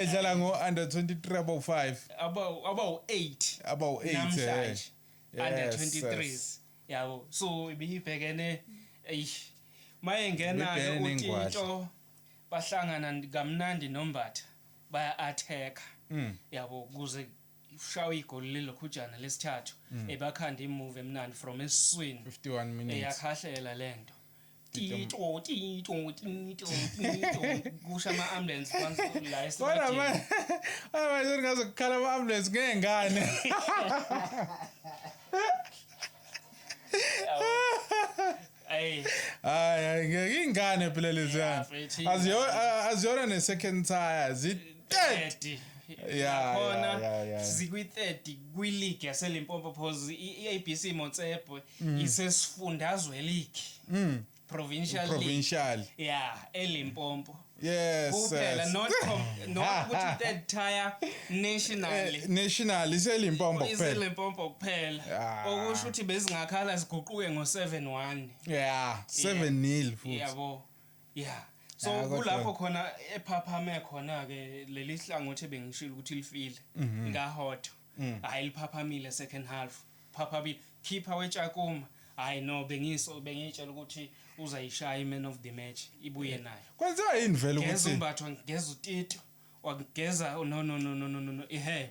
edlala ngo-under 23 abawu-5 abawu-8 abawu-8 namhlanje eh. under 23s yabo so ibiyibhekene eish mayengena-ke utinto bahlangana kamnandi nombatha baya-atheka hmm. yabo kuze ushawa igoli lilokhujana lesithathu mm. ebakhanda imuve emnandi from esiswini eyakhahlela lento Tito, tito, tito, tito. Kusha ama ambulance once la Kodwa ma esibadeni. ay manje ngaze kukhala ama ambulance ngengane. Ay, Hayi hayi ngeke ingane phela leziyana. mfethu, Aziyo a- aziyona ne second tire zi 30. Yeah, yeah, Khona yeah, yeah. zikwi 30 kwi league yaseLimpopo phozi i ABC Motsepe mm. isesifundazwe league mm. provincial provincial league. yeah elimpompo yes kuphela yes. not com, not ah, ukuthi ah. third tier nationally eh, national iselimpompo kuphela iselimpompo kuphela ah. okusho ukuthi bezingakhala ziguquke ngo 7-1 yeah 7 nil futhi yabo yeah so ah, kulapho khona ephaphame khona ke leli hlangothi bengishilo ukuthi lifile mhm. ngahotho mm. hayi liphaphamile second half phaphamile khipha wetshakuma hayi no bengiso bengitshela ukuthi uzayishaya iman of the match ibuye eh. nayo kwenziwa yini vele ukuthi ngezumbatho ngezutito wageza oh, no no no no no no ihe